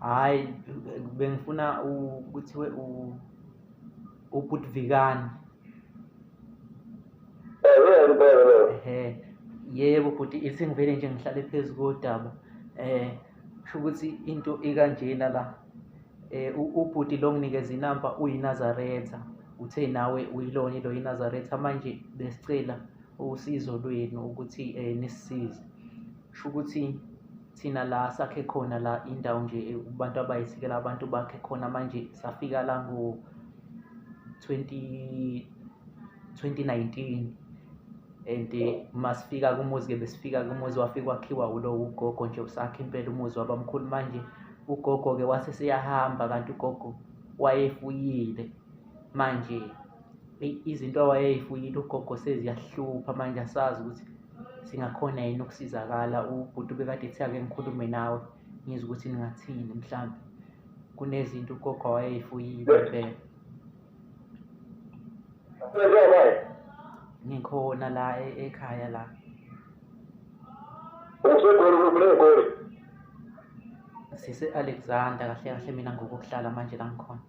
hayi bengifuna kuthiwe ubhutvikani eh, yebo bhuti ithi ngivele nje ngihlale phezu kodaba eh kusho ukuthi into ikanjena la eh ubhuti lo nginikeza inamba uyinazaretha uthe nawe uyilona lo yinazaretha manje besicela usizo lwenu ukuthi eh nisisize kusho ukuthi thina la sakhe khona la indawo nje abantu abayisikela abantu bakhe khona manje safika la ngo 20 2019 and masifika kumuzi ke besifika kumuzi wafika wakhiwa ulo ugogo nje usakhe impela umuzi wabamkhulu manje ugogo ke wase seyahamba kanti ugogo wayefuyile manje eyi izinto awayeyifuyile ugogo seziyahlupha manje asazi ukuthi singakhona yini ukusizakala ubhuti ubekade ethi ake ngikhulume nawe ngizwe ukuthi ningathini mhlawumbe kunezinto ugogo awayeyifuyile impela ngikhona la e- ekhaya la usegoli kulegoli sise-alexander kahle kahle mina ngokokuhlala manje la ngikhona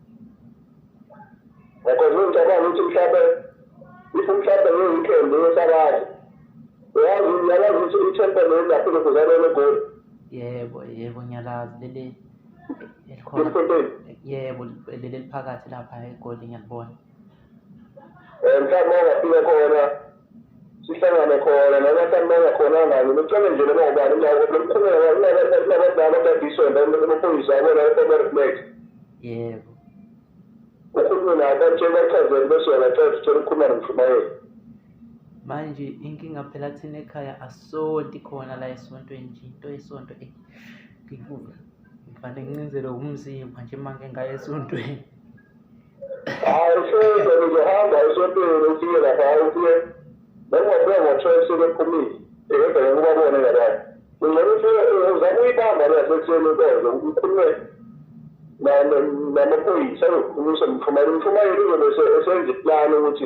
ngakho ngicabanga ukuthi mhlawumbe if mhlawumbe ngiyikhembe yesakazi uyazi uyalazi ukuthi ithempele yengaphi lokuzalwa legoli yebo yebo ngiyalazi leli elikhona yebo leli eliphakathi lapha egoli ngiyalibona um mhlawumbe ongafika khona sihlangane khona noma samanga khona ngani nicele nje noma ubani lokukhuleka kunabadala abadiswe amaphoyisa abona i-overflex yebo ukhulume naye batshela achazele bese uyabachazela uthole ukukhuluma nomshumayeli manje inkinga phela thina ekhaya asonti khona la esontweni nje into yesonto eh, ngivane ngincindzelwe wumzimba nje manje ngaye esontweni Hayi usuke ngizohamba esontweni ufike lapha ufike noma ufike ngo-twelve sebephumile ebheke kubabone ngabanye ungcono ufike uzama uyibamba le yasekuseni inkonzo ukhulume namaphoyisa azokukhulumisa mthumayeli mthumayeli uzobe esenza iplani ukuthi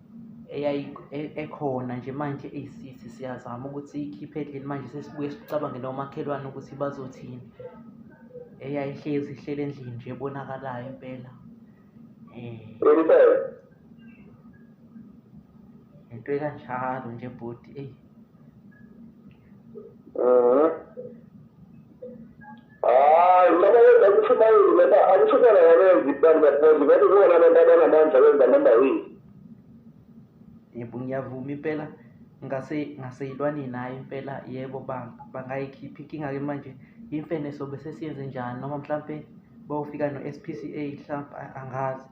e-, ekhona nje manje eyisithi siyazama ukuthi ikhiphe endlini manje sesibuye sicabange nomakhelwane ukuthi bazothini eyayihlezi ihlele endlini nje ebonakalayo impela um into ekanjalo nje bhuti eyi Mhm. Hayi, noma yenza ukuthi bayini noma akuthukela yabenzi bantu baphonzi kodwa kuwona abantu abanamandla benza noma yini. Yebo ngiyavuma impela ngase ngaseyilwane nayo impela yebo bang bangayikhiphi inkinga ke manje imfene sobe sesiyenze njani noma mhlampe bawufika no-SPCA mhlampe angazi.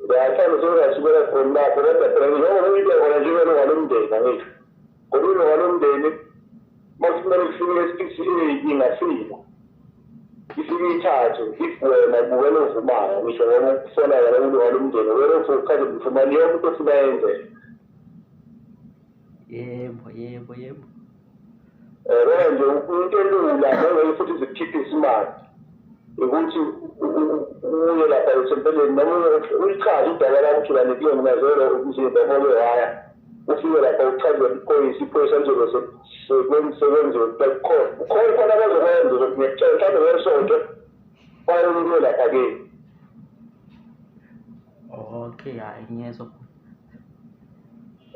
Ngiyasanda ukuthi asibele khona lapho kodwa phela njengoba uyibeka khona njengelo walomndeni angithi. Ngokulo walomndeni makumele kufike esithi inkinga simo. Ifike ithathe igwema kubukela ovumayo ngisho noma kufonakala kulo walomndeni wena uthi ukhathi mfumani yonke into ofuna yenzeke. yebo yebo yebo yabona nje into elula nengeke futhi zikhiphe isimali ukuthi uye lapha esempeleni noma uyichaze udaba lakho ukuthi lani kuyona mazelo umzimba mole waya ufike lapha uchaze iphoyisa iphoyisa lizobe sekwenziwe kukhona ukhona khona abazokwenza ukuthi ngiyakutshela mhlawumbe ngesonto bayolulwe lapha kini okay hayi ngiyezwa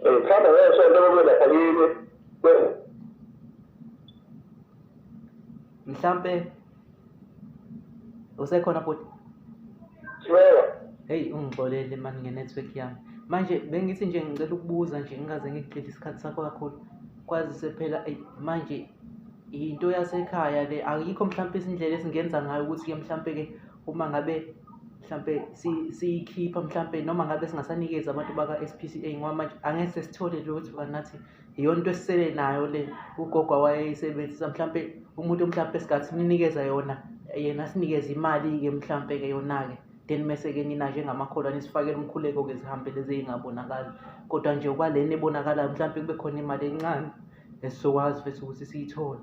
Ngithanda ngesonto kube lapha yini. Mhlampe usekhona bhuti? Sibeka. Hey ungixolele mani nge-network yami. Manje bengithi nje ngicela ukubuza nje ngingaze ngigcile isikhathi sakho kakhulu. Kwazise phela manje yinto yasekhaya le ayikho mhlampe izindlela esingenza ngayo ukuthi-ke mhlampe-ke uma ngabe mhlampe siyikhipha mhlampe noma ngabe singasanikezi abantu baka-SPCA ngoba manje angeke sesithole lutho kanti nathi iyona into esisele nayo le ugogo awayeyisebenzisa mhlampe umuntu mhlampe esingathi simnikeza yona yena sinikeze imali-ke mhlampe-ke yona-ke then mese-ke nina njengamakholwa nisifakele umkhuleko-ke zihambe lezi ey'ngabonakali kodwa nje kwalena ebonakalayo mhlampe kube khona imali encane esizokwazi futhi ukuthi siyithole